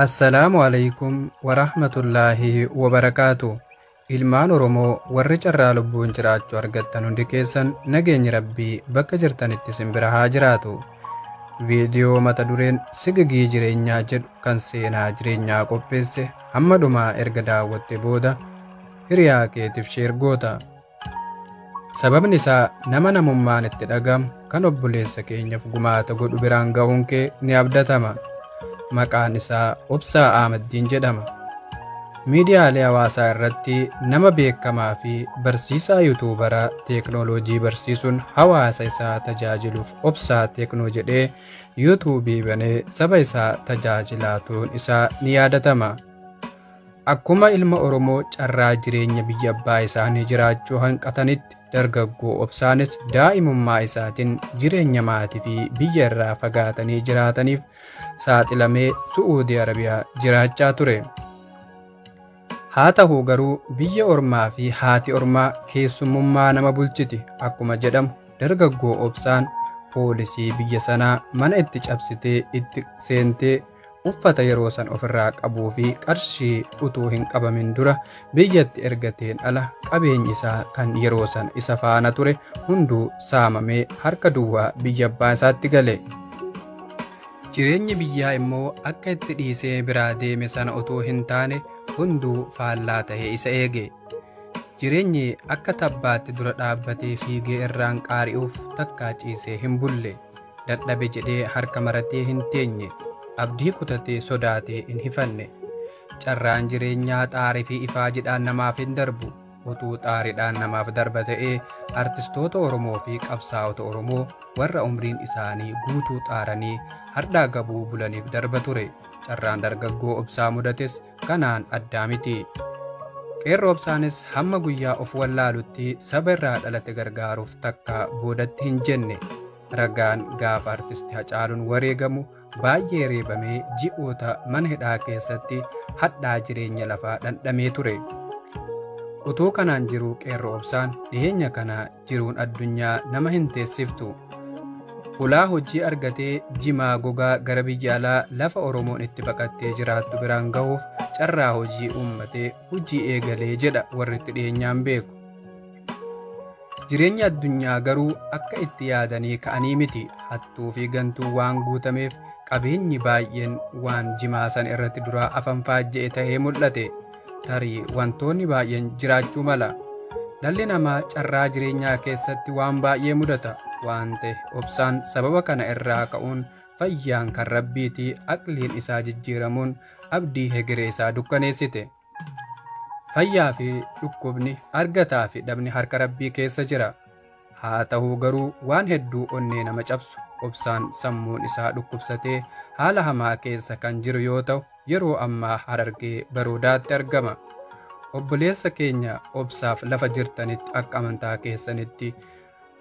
Assalaamu aleykum warahmatullaahi wabarakaatu ilmaan oromoo warri carraa lubbuun jiraachuu argattan hundi keessan nageenyi rabbii bakka jirtanitti isin bira haa jiraatu viidiyoo mata dureen sigigii jireenyaa jedhu kan seenaa jireenyaa qopheesse hamma dhumaa erga daawwatte booda hiriyaa keetiif sheer goota Sababni isaa nama namummaan itti dhagamu kan obboleessa keenyaaf gumaata godhu biraan ga'uun kee ni abdatama. Maqaan isaa Obsaa Ahmaddiin jedhama. Miidiyaalee hawaasaa irratti nama beekamaa fi barsiisaa yuutuubaraa teeknooloojii barsiisuun hawaasa isaa tajaajiluuf obsaa teeknoo jedhee yuutuubii banee saba isaa tajaajilaa turuun isaa ni yaadatama. Akkuma ilma Oromoo carraa jireenya biyya abbaa isaanii jiraachuu hanqatanitti dargaggoo obsaanis daa'imummaa isaatiin jireenya maatii fi biyya irraa fagaatanii jiraataniif saaxilamee Su'uudii Arabiyaa jiraachaa ture. Haa ta'u garuu biyya ormaa fi haati ormaa keessummummaa nama bulchiti akkuma jedhamu dargaggoo obsaan poolisii biyya sanaa mana itti cabsitee itti seentee uffata yeroo san ofirraa qabuu fi qarshii utuu hin qabamin dura biyyatti ergateen ala qabeenyi isaa kan yeroo san isa faana ture hunduu saamamee harka duwwaa biyya abbaa isaatti gale. Jireenyi biyyaa immoo akka itti dhiisee biraa deeme sana utuu hin taane hunduu faallaa ta'ee isa eege. Jireenyi akka tabbaatti dura dhaabbatee fiigee irraan qaari'uuf takkaa ciisee hin bulle. Dadhabe jedhee harka maratee hin teenye. Abdii kutatee sodaatee hin hifanne. Carraan jireenyaa xaarii fi ifaa jedhaan namaaf hin darbu. Utuu xaariidhaan namaaf darba ta'ee artistoota Oromoo fi qabsaa'ota Oromoo warra umriin isaanii guutuu xaaranii hardhaa gabuu bulaniif darba ture. Carraan dargaggoo obsaa mudates kanaan addaa miti. Qeerroo obsaanis hamma guyyaa of wallaalutti saba irraa dhalate gargaaruuf takka boodatti hin jenne. Ragaan gaafa artisti Hacaaluun wareegamu baay'ee reebamee ji'oota mana hidhaa keessatti hadhaa jireenya lafaa dhandhamee ture. Utuu kanaan jiruu qeerroo obsaan dhiheenya kana jiruun addunyaa nama hin teessiftu. Hulaa hojii argatee jimaa gogaa gara biyya alaa lafa Oromoon itti baqattee jiraattu biraan gahuuf carraa hojii uummatee hojii eegalee jedha warri itti dhiyeenyaan beeku. Jireenyi addunyaa garuu akka itti yaadanii ka'anii miti hattuu fi gantuu waan guutameef qabeenyi baay'een waan jimaa san irratti duraa afan faajja'e ta'ee mul'ate. Tarii wantoonni baay'een jiraachuu mala. Dhalli namaa carraa jireenyaa keessatti waan baay'ee mudata waan ta'e obsaan sababa kana irraa ka'uun fayyaan kan rabbiitii aqliin isaa jijjiiramuun abdii hegeree isaa dukkaneessite. Fayyaa fi dhukkubni argataa fi dhabni harka rabbii keessa jira. Haa ta'uu garuu waan hedduu onnee nama cabsu obsaan sammuun isaa dhukkubsatee haala hamaa keessa kan jiru yoo ta'u yeroo ammaa harargee baroodaatti argama. Obboleessa keenya obsaaf lafa jirtanitti akka amantaa keessanitti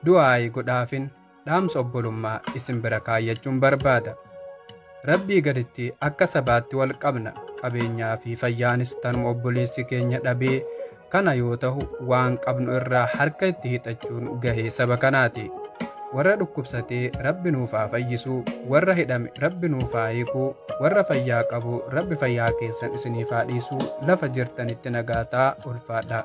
du'aayi godhaafin dhaamsa obbolummaa isin bira kaayyachuun barbaada. Rabbii gaditti akka sabaatti wal qabna qabeenyaa fi fayyaanis tanuma obboleessi keenya dhabee kana yoo tahu waan qabnu irraa harka itti hixachuun gahee saba kanaati warra dhukkubsatee rabbi nuuf haa fayyisuu warra hidhame rabbi nuuf haa hiikuu warra fayyaa qabu rabbi fayyaa keessan isiniif haa dhiisuu lafa jirtanitti nagaataa ulfaadhaa